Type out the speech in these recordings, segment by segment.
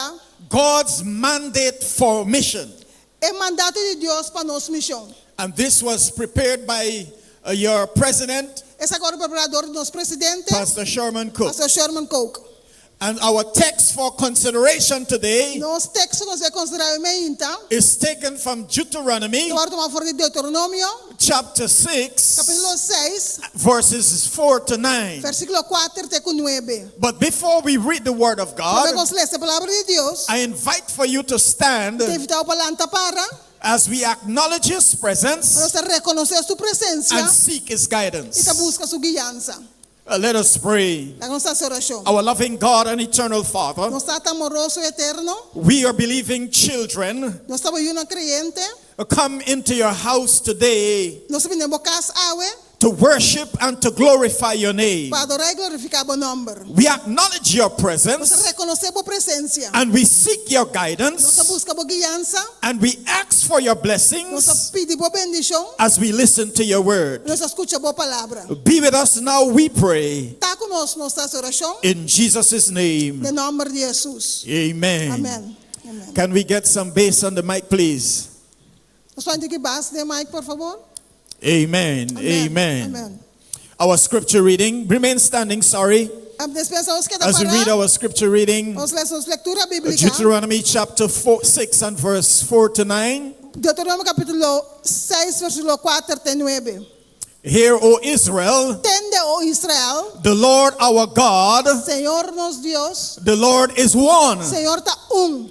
a. God's mandate for mission. E mandato di Dios pa nos mision. And this was prepared by your president. Esaki ora prepará dor di nos presidente. Pastor Sherman Coke. Pastor Sherman Coke. And our text for consideration today. Nos teksto ku nos bai konsiderá yomen hinta. Is taken from Deuteronomy. Ta wòrdu toma for di Deuteronomio. chapter 6 Capítulo 6, verses 4 to 9. versículo 4 te cu 9. But before we read the word of Promé God, cu nos lesa Palabra di Dios, I invite for you to stand te invitá bo pa lanta para, as we acknowledge His pa nos presence ta reconoce su presencia and seek His y ta guidance. busca su guianza. Let us pray. Laga nos hasi orashon. Our loving God and eternal Father. Nos Tata amoroso eterno. We your believing children. Nos ta bo yunan creyente. Come into your house today. Nos ta bini den bo cas awe. To worship and to glorify your name. Pa adora y glorifica bo nomber. We acknowledge your presence. Nos ta reconoce bo presencia. And we seek your guidance. Nos ta busca bo guiansa. And we ask for your blessings. Nos a pidi bo bendishon. As we listen to your word. Nos a skucha bo palabra. Be with us now we pray. Ta ku nos, nos ta haci orashon. In Jesus' name. Den nomber di Hesus. Amen. Amen. Amen. Can we get some bass on the mic please? Nos por a henter ki bas den mic por favor. Amen. Amen. Amen. Amen. Our scripture reading, remain standing, sorry, as we read our scripture reading, Deuteronomy chapter 4, 6 and verse 4 to 9. Deuteronomio capítulo 6, versículo 4 te 9. Hear, O Israel, Tende, O Israel, the Lord our God, Señor nos Dios, the Lord is one. Señor ta un.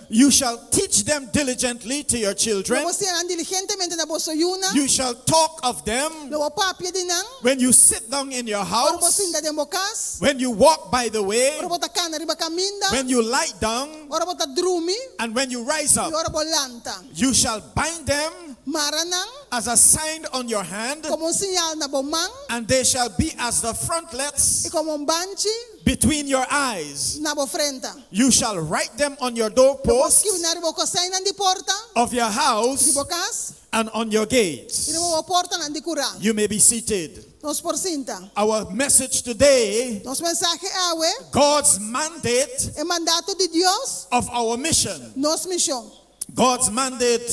You shall teach them diligently to your Lo children, bo sina nan diligentemente na boso yunan. you shall talk of them Lo bo papia di nan when you sit down in your ora bo house, sinta den bo kas, when you walk by the way, ora bo ta kana riba kaminda, when you lie down, ora bo ta drumi and when you rise i up. ora bo lanta. You shall bind them Mara nan as a sign on your hand, komo un siñal na bo man and they shall be as the frontlets i komo un banchi. between your eyes. Na bo frenta. You shall write them on your door posts. Lo bo skibi na riba bo koseinan di porta. Of your house. Di bo kas. And on your gates. I riba bo portanan di kura. You may be seated. Nos por sinta. Our message today. Nos mensahe awe. God's mandate. E mandato di Dios. Of our mission. Nos mishon. God's mandate.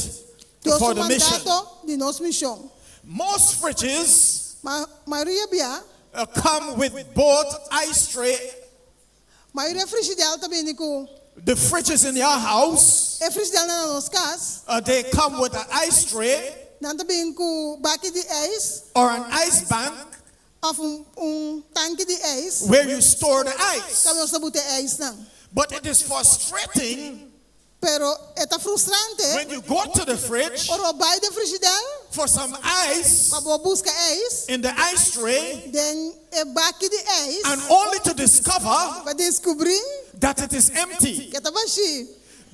Dios su mandato di nos mishon. Most fridges. Mayoria bia. E come with both ice tray. Ma e refrigidel ta bini ku. The fridges in your house. E frisdel nan na nos kas. They come with a ice tray. Nan ta bini ku baki di ijs. Or an ice bank. Of un tanki di ijs. Where you store the ice. Kaba nos ta buta e ijs nan. But it is frustrating. Pero e ta frustrante When you go to the fridge ora bo bai den frigidel for some ice pa bo buska ijs in the ice tray den e baki di ijs and only to discover pa descubri that it is empty. ke ta bashi.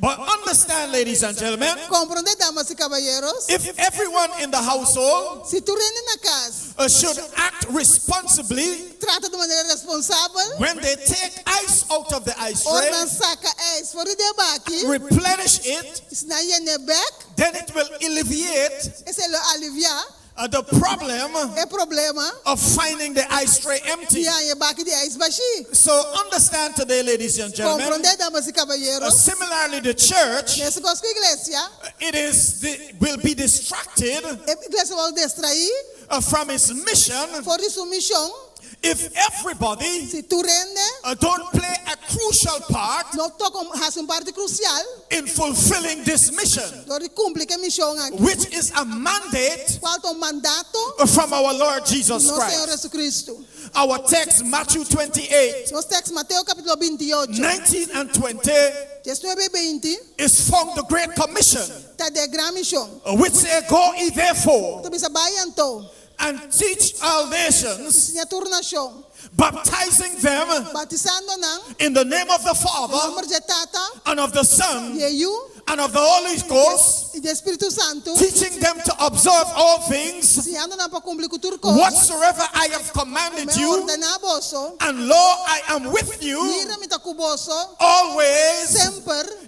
But understand ladies and gentlemen, Comprende damas y caballeros, if everyone in the household si tur hende na cas. They should act responsibly. Trata di manera responsabel. When they take ice out of the ice tray. Ora nan saka ijs for di e baki. And replenish it. Y si nan yena e bek. Then it will illeviate. Esei lo alivia. The problem. E problema. Of finding the ice tray empty. Di haña e baki di ijs bashi. So understand today ladies and gentlemen. Komprondé damas y kaballeros. Similarly the church. Mester kos ku iglesia. It is the. Will be distracted. E iglesia wou destraí. From his mission. For di su mishon. If everybody. Si tur hende. Don't play a crucial part. No toca un hasi un parti crucial. In fulfilling this mission. Dor di cumpli ki e mishon aki. Which is a mandate. Cual ta un mandato. From our Lord Jesus Christ. Di nos Señor Jesucristo. Our text Matthew twenty eight. Nos text Mateo capitulo binti ocho. Nineteen and twenty. Diesnuebe i beinti. Is found the great commission. Ta de gran mision. Which e go i therefore. Ku ta bisa, Bai i anto. And teach all nations. I siña tur nashon. Baptizing them. Bautisando nan. In the name of the Father. Den nomber dje Tata. And of the Son. Di e Yu. And of the Holy Ghost. I di e Spiritu Santu. Teaching them to observe all things. Siñando nan pa kumpli ku tur kos. Whatsoever I have commanded you. Ku mi a ordená boso. And lo I am with you. Mira, mi ta ku boso. Always. Semper.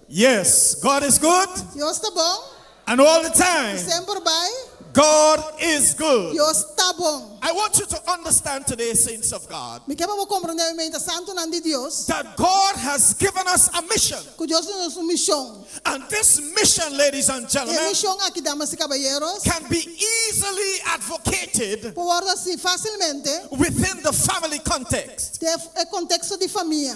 Yes, God is good. Dios ta bon. And all the time. I semper bai. God is good. Dios ta bon. I want you to understand today, saints of God. Mi ke pa bo komprende oe mente santunan di Dios. That God has given us a mission. Ku Dios duna nos un mishon. And this mission, ladies and gentlemen. E mishon aki, damas i kaballeros. Can be easily advocated. Por wòrdu hasi fasilmente. Within the family context. Den e konteksto di famia.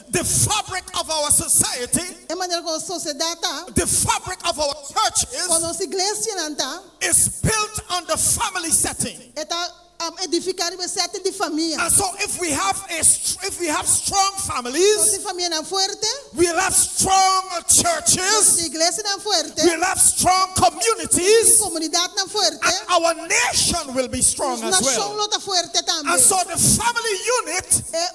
The fabric of our society. E manera ku nos sosiedat ta. The fabric of our churches. Kon nos iglesianan ta. Is built on the family setting. E ta edifiká riba e setting di famia. And so if we have a if we have strong families. So si famianan fuerte. We'll have strong churches. Nos tin iglesianan fuerte. We'll have strong communities. Nos tin komunidatnan fuerte. And our nation will be strong as well. Nos nashon lo ta fuerte tambe. And so the family unit.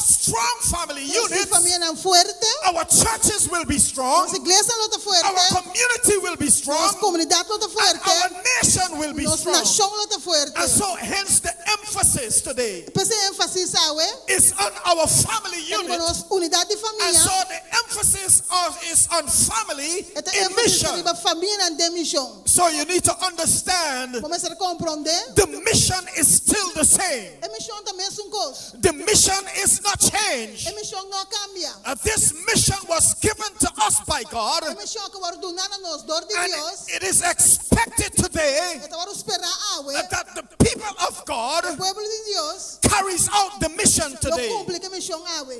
strong family nos units, famianan fuerte, our churches will be strong, nos iglesianan lo ta fuerte, our community will be strong, nos komunidat lo ta fuerte, and our nation will be nos strong. nashon lo ta fuerte. And so, hence the emphasis today. P'es e énfasis awe is on our family ta riba unit, nos unidat di and famia, so the emphasis on is on family e ta in énfasis ta mission. riba famianan den mishon. So you need to understand Bo mester comprende, the mission is still the same. e mishon ta mesun kos. The mission is not changed. E mishon no a kambia. This mission was given to us by God. E mishon aki a wòrdu duna na nos dor di Dios. And it is expected today. E ta wòrdu spera awe. That the people of God. E pueblo di Dios. Carries out the mission today. Lo kumpli ku e mishon awe.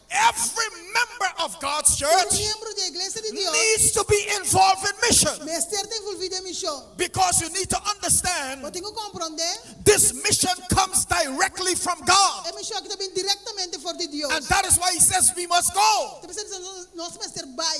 Every member of God's Tur church miembro di e iglesia di Dios needs to be involved in mission mester ta envolvi den mision. because you need to understand Bo tin ku komprondé this mission comes directly from God. e mision aki ta bini direktamente for di Dios. And that is why he says we must go. Ta p'esei nos mester bai.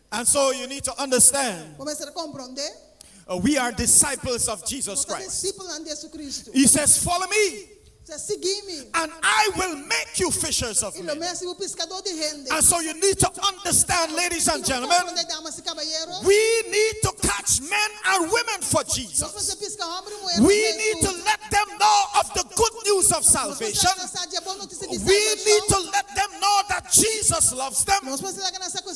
And so you need to understand. Bo mester a komprondé. We are disciples of Jesus Nos ta Christ. disipelnan di Hesukristu. He says, Follow me, E siña, Sigui mi, and I will make you fishers of i lo mi a men. hasi bo piskadó di hende. And so you need to understand, ladies and I bo gentlemen, komprondé, damas i kabayeros, we need to catch men and women for nos mester Jesus. piska hòmber i muher pa We need to Jesus. let them know of the good news of Nos mester laga salvation. nan sa dje bon notisia di We need to salbason. let them know that Jesus loves them. Nos mester laga nan sa ku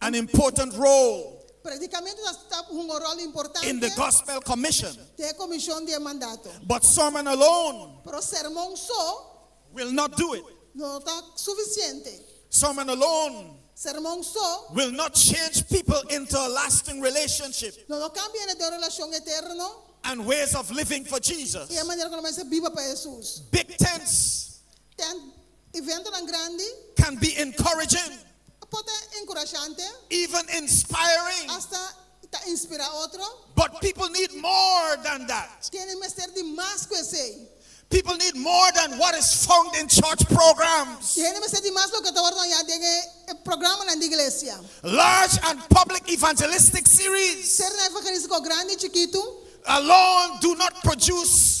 an important role Predicamento ta sta un rol importante in the gospel commission, den e comision di e mandato. but sermon alone Pero sermon so will not do it. no ta suficiente. Sermon alone Sermon so will not change people into a lasting relationship no lo cambia hende den un relacion eterno and ways of living for Jesus. y e manera cu lo mester biba pa Jesus. Big tents Tent Eventonan grandi. Can be encouraging. A por ta encourashante. Even inspiring. Hasta ta inspira otro. But people need more than that. Kende mester di mas ku esei. People need more than what is found in church programs. E hende mester di mas loke ta wòrdu hañá den e programanan di iglesia. Large and public evangelistic series. Ser na evangelista ku grandi i chikitu. Alone do not produce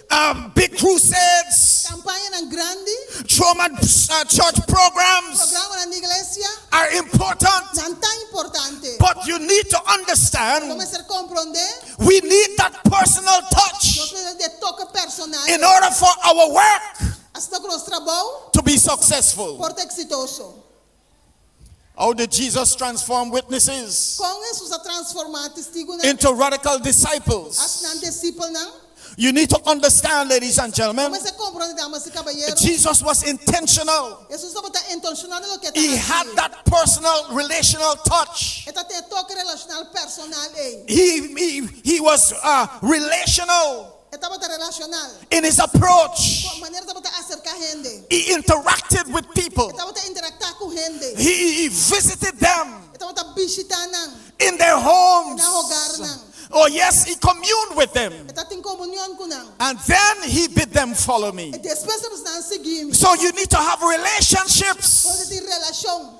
Big crusades. Campañanan grandi. Churman church programs. Programanan di iglesia. Are important. Nan ta importante. But you need to understand. Lo mester comprende. We need that personal touch. Nos mester den toke personal. In order for our work. Asina ku nos trabou. To be successful. Por ta exitoso. How did Jesus transform witnesses? Kon Hesus a transformá testigunan? Into radical disciples. Asnan disipelnan. You need to understand, ladies and gentlemen. Bo mester komprondé, damas i kabalero. Jesus was intentional. Hesus tabata intensional den loke e ta hasi. He had that personal relational touch. E ta tin e toke relashonal personal ei. He he he was uh relational. E tabata relacional. In his approach. Cu e manera tabata acerca hende. He interacted with people. E tabata interacta cu hende. He visited them. E tabata bishita nan. In their homes. Na hogar nan. Oh yes, he communed with them. E ta tin comunion cu nan. And then he bid them follow me. E despues e bisa nan sigui mi. So you need to have relationships. Por bo tin relacion.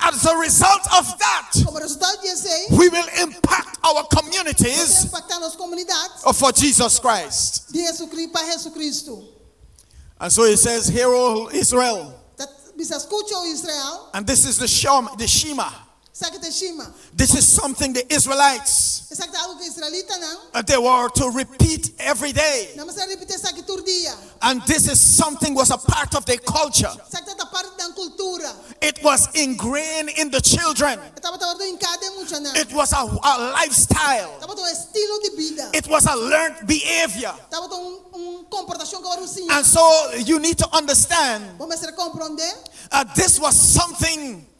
As a result of that, Como resultado di esei, we will impact our nos ta communities impacta nos comunidad for Jesus Christ. di Jesucri-, pa Jesucristo. And so he says, Hear, O Israel, Ta bisa, Scucha, O Israel, and this is the Shema, the Shema, esaki ta e shima. This is something the Israelites. Esaki ta algu ku israelitanan. They were to repeat every day. Nan mester repití esaki tur dia. And this is something was a part of their culture. Esaki tabata parti di nan kultura. It was ingrained in the children. E tabata wordo hinká den muchanan. It was a lifestyle. Tabata un estilo di bida. It was a learned behavior. Tabata un komportashon ku a wòrdu siñá. And so you need to understand. Bo mester komprondé. This was something.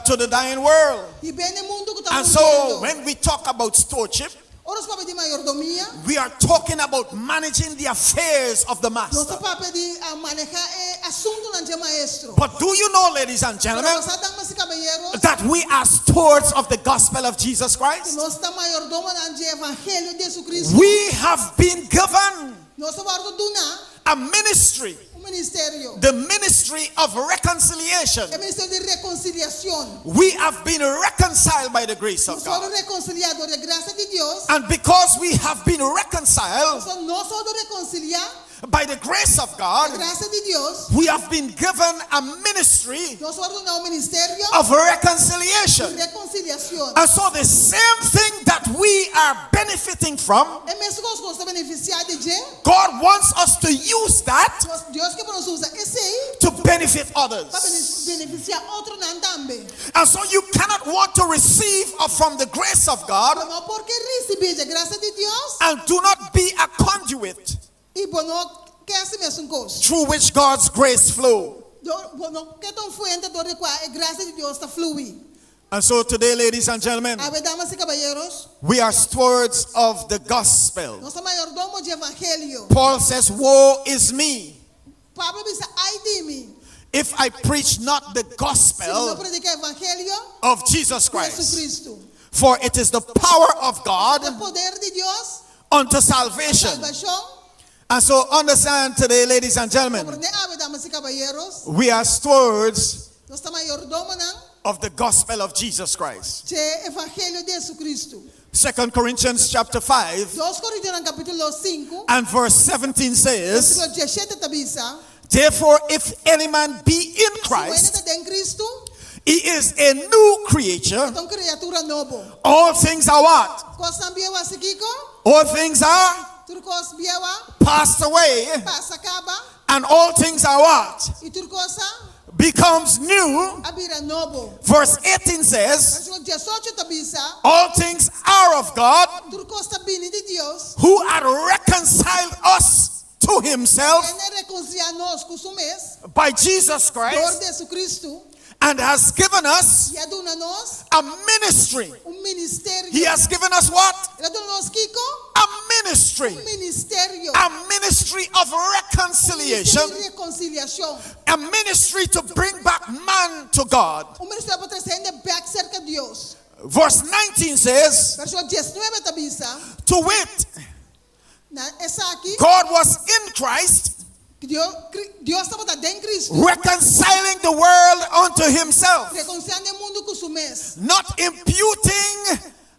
to the dying world. Di ben e mundu ku ta And so muriendo. when we talk about stewardship, Ora nos papia di mayordomia, we are talking about managing the affairs of the nos ta Master. papia di a manehá e asuntunan dje Maestro. But do you know, ladies and Pero gentlemen, bosnan damas i kabayeros, that we are stewards of the gospel of Jesus ku Christ? nos ta mayordomonan dje evangelio di JesuCristo. We have been given Nos a wordo duna. A ministry. Un ministerio. The ministry of reconciliation. E ministerio di reconciliacion. We have been reconciled by the grace of God. Nos a wordo reconcilia dor e gracia di Dios. And because we have been reconciled. Pasobra nos a wordo reconcilia. By the grace of God. Dor e gracia di Dios. We have been given a ministry. Nos a wordo duna un ministerio. Of reconciliation. Di reconciliacion. And so the same thing that we are. benefiting from. E mes kos ku nos ta benefisiá di dje. God wants us to use that. Kos, Dios ke pa nos usa esei. To benefit others. Pa benefisiá otronan tambe. And so you cannot want to receive of from the grace of God. Lo no por ke risibí dje grasia di Dios. And do not be a conduit. I bo no ke hasi mesun kos. Through which God's grace flow. Dor bo no ke ta un fuente dor di kua e grasia di Dios ta flui. And so today, ladies and gentlemen. Awe damas i kabayeros. We are stewards of the gospel. Nos ta mayordomo dje evangelio. Paul says, Woe is me! Pablo bisa, Ai di mi! If I preach not the gospel. Si mi no predika e evangelio. Of Jesus Christ. Di Jesucristo. For it is the power of God. Pasobra ta poder di Dios. Unto salvation. Pa salbashon. And so understand today ladies and gentlemen. Komprende awe damas i kabayeros. We are stewards. Nos ta mayordomonan. Of the gospel of Jesus Christ. C'e evangelio di Jesucristo. Second Corinthians chapter five Dos Corintianan capítulo sinku, and verse 17 says, versículo diesshete ta bisa, Therefore if any man be in Si un hende Christ, ta den Cristo, he is a new e creature, ta un criatura nobo. all things are what? Cosnan bieu a hasi kico? All things are Tur cos bieu a passed away, pasa caba, and all things are what? i tur cos a becomes new, a bira nobo. Verse 18 says, Pasobra diesocho ta bisa, All things are of God, tur kos ta bini di Dios, who at reconciled us to himself, kende rekonsilia nos ku su mes, by Jesus Christ, dor Jesucristo, and has given us i a duna nos a ministry. un ministerio. He has given us what? El a duna nos kiko? A ministry. Un ministerio. A ministry of Un ministerio reconciliation. di rekonsiliashon. A ministry to bring back man to God. Un ministerio pa trese hende bek serka Dios. Verse 19 says. Verso diesnuebe ta bisa. To wit, Na esaki. God was in Christ. Dios tabata den Cristo. Reconciling the world unto Himself. Reconciliando e mundu cu su mes. Not imputing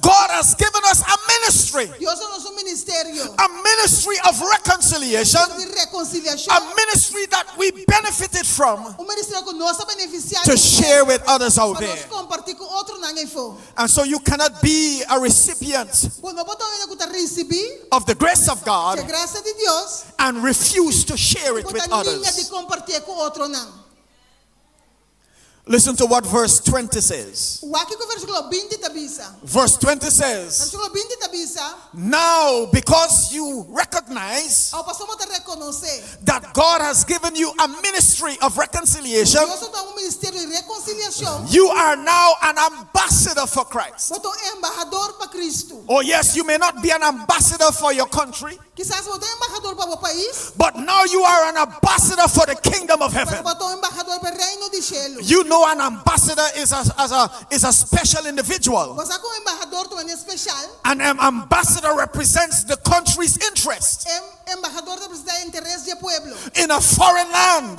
God has given us a ministry. Dios a nos un ministerio. A ministry of reconciliation. Ministerio di reconciliacion. A ministry that we benefited from. Un ministerio cu nos a beneficia di e. To share with others out there. Pa nos comparti cu otronan eyfo. And so you cannot be a recipient. Bo no por ta un hende cu ta ricibi. Of the grace of God. Di e gracia di Dios. And refuse to share it with others. Y bo ta ninga di compartie cu otronan. Listen to what verse twenty says. Wak kico versículo binti ta bisa. Verse twenty says. Versículo binti ta bisa. Now because you recognize. Ao pasobra bo ta reconoce. That God has given you a ministry of reconciliation. Dios ta duna bo un ministerio di reconciliacion. You are now an ambassador for Christ. Bo ta un embahador pa Cristo. Oh yes, you may not be an ambassador for your country. Kisas bo ta un embahador pa bo pais. But now you are an ambassador for the kingdom of heaven. Pero bo ta un embahador pa e reino di shelu. You know an ambassador is a is a special individual. Bo sa ku un embahador ta un hende speshal. An ambassador represents the country's interest. E embahador ta representa e interes di e pueblo. In a foreign land.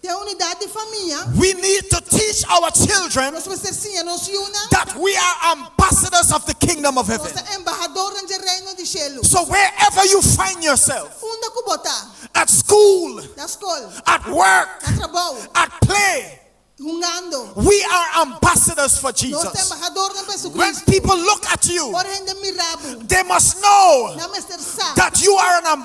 Te e unidat di famia. We need to teach our children. Nos mester siña nos yunan. That we are ambassadors of the kingdom of heaven. Nos ta embahadornan dje reino di shelu. So wherever you find yourself. Unda ku bo ta. At school. Na skol. At work. Na trabou. At play. Hungando. We are ambassadors for Jesus. Nos ta embahadornan pa Jesucristo. When people look at you. Ora hende mira bo. They must know. Nan mester sa. That you are an.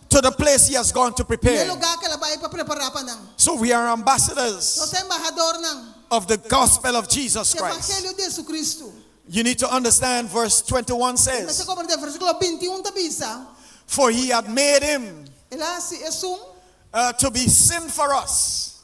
to the place he has gone to prepare. N'e lugar k'el a bai pa prepara pa nan. So we are ambassadors. Nos ta embahadornan. Of the gospel of Jesus Christ. Di evangelio di Jesucristo. You need to understand verse 21 says. Mester comprende versiculo binti un ta bisa. For he had made him. El a hasi esun. To be sin for us.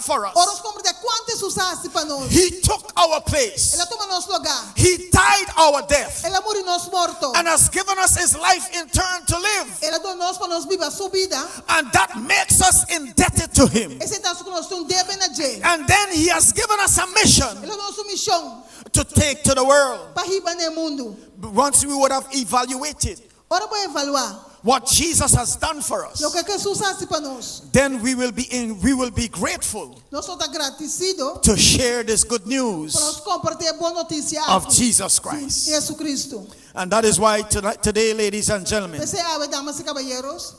for us. Ora nos compra te cuanto Jesús a haci pa nos. He took our place. El a tuma nos lugar. He died our death. El a muri nos morto. And has given us his life in turn to live. El a duna nos pa nos biba su bida. And that makes us indebted to him. Esei ta haci cu nos tin un debe na dje. And then he has given us a mission. El a duna nos un mision. To take to the world. Pa hiba na e mundo. Once we would have evaluated Ora bo evaluá. What Jesus has done for us. Loke Hesus hasi pa nos. Then we will be in we will be grateful. Nos lo ta gratisido. To share this good news. Pa nos kompartí e bon notisia aki. Of Jesus Christ. Di Hesukristu. And that is why today ladies and gentlemen. P'esei awe damas i kabayeros.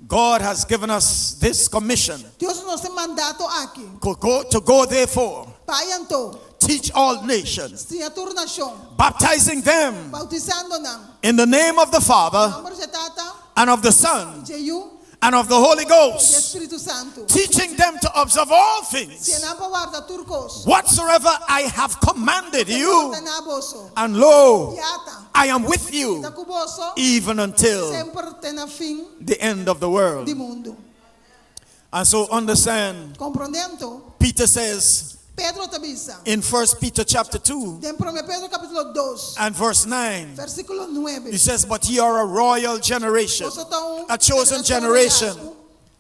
God has given us this commission. Dios nos e manda anto aki. Go, go, to go therefore. Pa i anto. Teach all nations. Stiña tur nashon. Baptizing them. Bautisando nan. In the name of the Father. Na nomber dje Tata. And of the Son. I dje Yu. And of the Holy Ghost. I dje Spiritu Santu. Teaching them to observe all things. Siña nan pa warda tur kos. Whatsoever I have commanded you. Ku mi a warda na boso. And lo. I ata. I am with you. Mi ta ku boso. Even until. Semper te na fin. The end of the world. Di mundu. And so understand. Komprondé anto. Peter says. Pedro ta bisa. In first Peter chapter two. Den promé Pedro kapítulo dos. And verse nine. Versíkulo nuebe. He says but ye are a royal generation. Boso ta un. A chosen generation.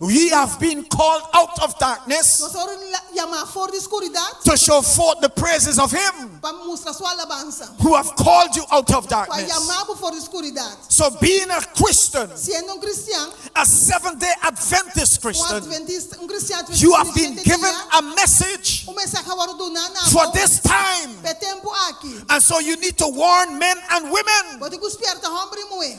We have been called out of darkness. Nos a word yamá for di skuridat. To show forth the praises of him. Pa mustra su alabansa. Who have called you out of darkness. Ku a yamá bo for di skuridat. So being a Christian. Siendo un kristian. A Seventh Day Adventist Christian. Un kristian adventista di siete dia. You have been given a message. Un mensahe a wòrdu duná na bo. For this time. P'e tempu aki. And so you need to warn men and women. Bo tin ku spierta hòmber i muhé.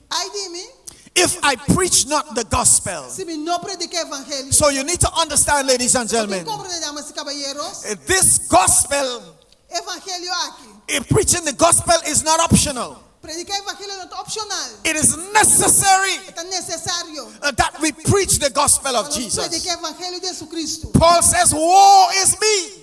Ai di mi! If I preach not the gospel. Si mi no predica e evangelio. So you need to understand ladies and gentlemen. Bo tin comprende damas y caballeros. This gospel. E evangelio aki. If preaching the gospel is not optional. Predica e evangelio no ta opcional. It is necessary. E ta necesario. That we preach the gospel of Jesus. Pa nos predica e evangelio di Jesucristo. Paul says, woe is me.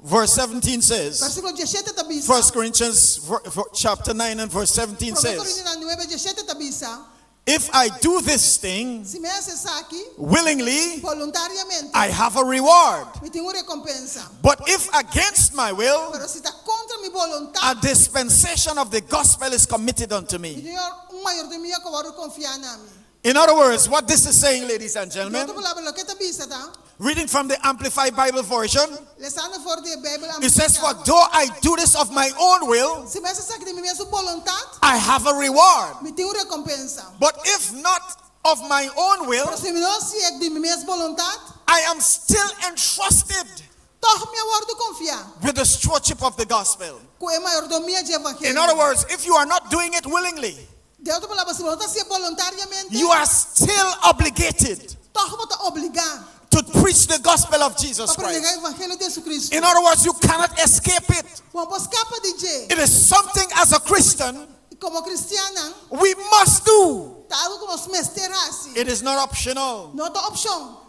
Verse 17 says, Versículo diesshete ta bisa, 1 Corinthians ver- ver- chapter 9 and verse 17 Promé says, Corintianan nuebe diesshete ta bisa, If I do this thing si mi hasi esaki willingly, boluntariamente, I have a reward. mi tin un recompensa. But if against my will, Pero si ta contra mi a boluntad, dispensation of the gospel is committed unto mi me. tin un mayordomia cu a wòrdu confiá na mi. In other words, what this is saying, ladies and Di gentlemen, otro palabra, loke e ta bisa ta, reading from the Amplified Bible Version, lesando for di e Beibel it says, For Amplificá, though I do this of my own will, si mester saki di mi mesun boluntat, I have a reward, mi tin un rekompensa. but if not of my own will, Pero si mi no si e di mi mes boluntat, I am still entrusted tòg mi a wòrdu konfiá with the stewardship of the gospel. ku e mayordomia dje In other evangelio. words, if you are not doing it willingly, De otro palabra, si bo no ta haci'e bolontariamente. You are still obligated. Tòg bo ta obligá. To preach the gospel of Jesus Christ. Pa predegá evangelio di JesuCristu. In other words, you cannot escape it. Bo no por scapa di dje. It is something as a Christian. I komo cristiannan. We must do. Ta algu ku nos mester hasi. It is not optional. No ta opshon.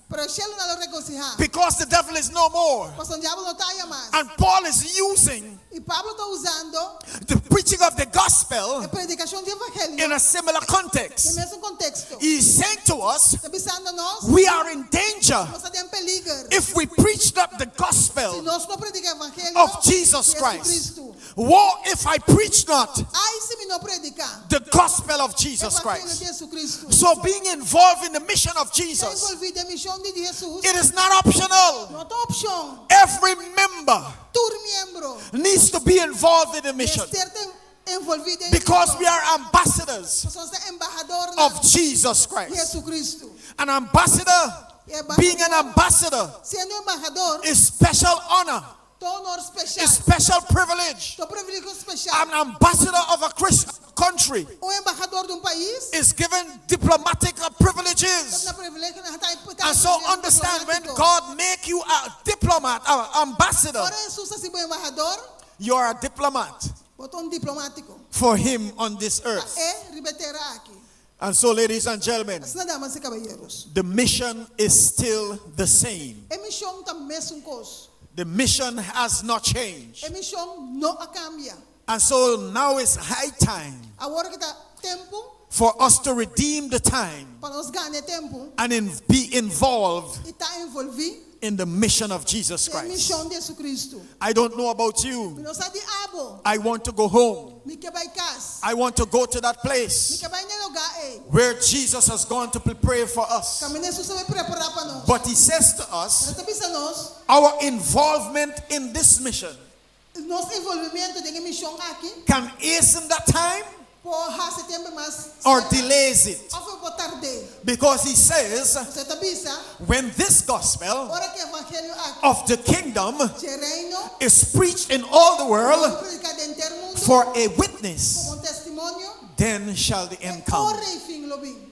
Pero e shelu no lo regocijá. Because the devil is no more. Pasobra diablo no ta aya mas. And Paul is using. I Pablo ta usando. The preaching of the gospel. E predikacion di evangelio. In a similar context. Den mesun konteksto. He is saying to us. Ta bisando nos. We are in danger. Nos ta den peliger. If we preach not the gospel. Si nos no predika evangelio. Of Jesus Christ. Di Jesucristo. Woe if I preach not. Ai si mi no prediká. The gospel of Jesus Christ. Evangelio di Hesukristu. So being involved in the mission of Jesus. Ta envolví den mishon di Hesus. It is not optional. No ta opshon. Every member. Tur miembro. Needs to be involved in the mission. Mester ta envolví den e mishon. Because we are ambassadors. Pasobra nos ta embahadornan. Of Jesus Christ. Di Hesukristu. An ambassador. Being an ambassador. Siendo embahador. Is special honor. Ta honor special. A special privilege. Ta privilegio special. An ambassador of a country. Un embahador di un pais. Is given diplomatic privileges. Ta na privilegio na hatae diplomático. And so understand when God make you a diplomat, a ambassador. Ora Hesus ta hasi bo embahador. You are a diplomat. Bo ta un diplomático. For him on this earth. Pa e riba e tera aki. And so ladies and gelmen. Asina damas y caballeros. The mission is still the same. E mision ta mesun cos. The mission has not changed. E mision no a cambia. And so now is high time. Awor ki ta tempo. For us to redeem the time. Pa nos gana e tempo. And be involved. Y ta envolvi. in the mission of Jesus Christ. Den e mishon di Jesucristo. I don't know about you. Mi no sa di abo. I want to go home. Mi ke bai kas. I want to go to that place. Mi ke bai n'e loga ei. Where Jesus has gone to prepare for us. Kaminda Hesus a bai prepara pa nos. But he says to us. Pero ta bisa nos. Our involvement in this mission. Nos involvimento den e mision aki. Can isn't that time? Por haci tembe mas cerca. Or delays it. Of e por tard'é. Because he says. Pasobra e ta bisa. When this gospel. Ora ki e evangelio aki. Of the kingdom. Dje reino. Is preached in all the world. Lo predica den henter mundo. For a witness. Como un testimonio. Then shall the end come. E ora y fin lo bin.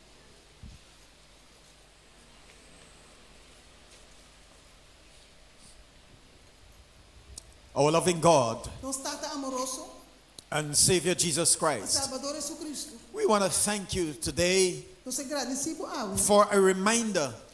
Our loving God. Nos Tata amoroso. And Savior Jesus Christ. I Salbador Jesucristo. We wanna thank you today. Nos a gradeci bo awe. For a reminder.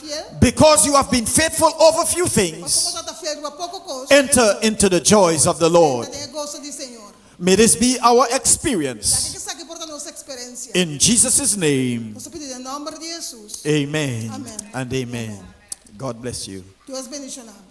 fiel. Because you have been faithful over few things. Pasobra bo tabata fiel riba poko kos. Enter into the joys of the Lord. Entra den e goso di Señor. May this be our experience. Laga ke esaki por ta nos eksperensia. In Jesus' name. Nos ta pidi den nòmber di Hesus. Amen and amen. God bless you. Dios bendishona bo.